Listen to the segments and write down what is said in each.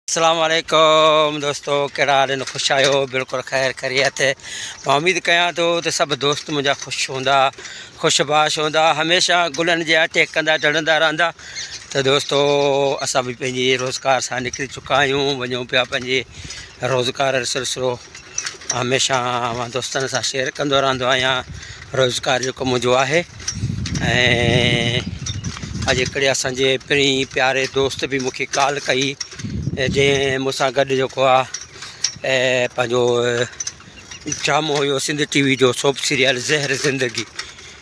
السلام عليڪم دوستو ڪهڙا حال آهن خوش آهيو بلڪل خير خريت مان اميد ڪيان ٿو ته سڀ دوست منهنجا خوش هوندا خوش باش هوندا هميشه گلن جي آٽي ڪندا ٽڙندا رهندا ته دوستو اسان به پنهنجي روزگار سان نڪري چڪا آهيون وڃون پيا پنهنجي روزگار سلسلو هميشه اوهان دوستن سان شيئر ڪندو رهندو آهيان روزگار جيڪو منهنجو آهي ۽ اڄ هڪڙي اسانجي پري پياري دوست به مونکي ڪال ڪئي جنهن مون سان گڏ جيڪو آهي پنهنجو ڊرامو هيو سنڌ ٽي وي جو سوپ سيريل زهر زندگي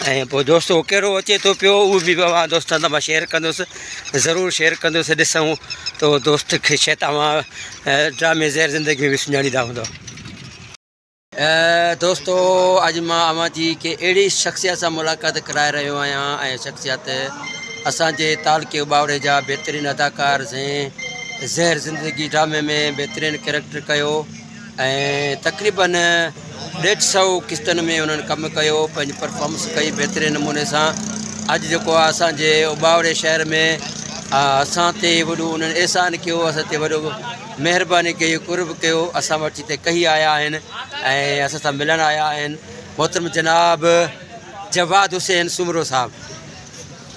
۽ پوء دوست اهو ڪهڙو اچي ٿو پيو اهو به اوهان دوستن سان مان شيئر ڪندوسي ضرور شيئر ڪندوسي ڏسون ته اهو دوست کي شايد اوهان ڊرامي زهر زندگي ۾ به سڃاڻيندا هوندا دوستو اڄ مان اوهان جي ڪي اهڙي شخصيت سان ملاقات ڪرائي رهيو آهيان ۽ شخصيت اسان جي تعلقي ٻاوڙي جا بهترين اداڪار زين زهر زندگي ڊرامي ۾ بهترين ڪيريڪٽر ڪيو ۽ تقريبن ڏيڍ سؤ قسطن ۾ انهن ڪم ڪيو پنهنجي پرفارمنس ڪئي بهترين نموني سان اڄ جيڪو آ اسان جي اوٻاوڙي شهر ۾ اسان تي وڏو انهن احسان ڪيو اسان تي وڏو مهرباني ڪئي قرب ڪيو اسان وٽ جتي ڪهي آيا آهن ۽ اسان سان ملڻ آيا آهن محترم جناب جواد حسين سومرو صاحب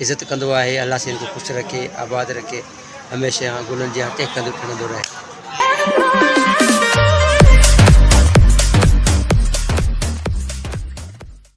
عزت ڪندو آهي الله سين کي خوش رکي آباد رکي هميشه اها گلن جيان ٽهڪندو ٽڙندو رهي.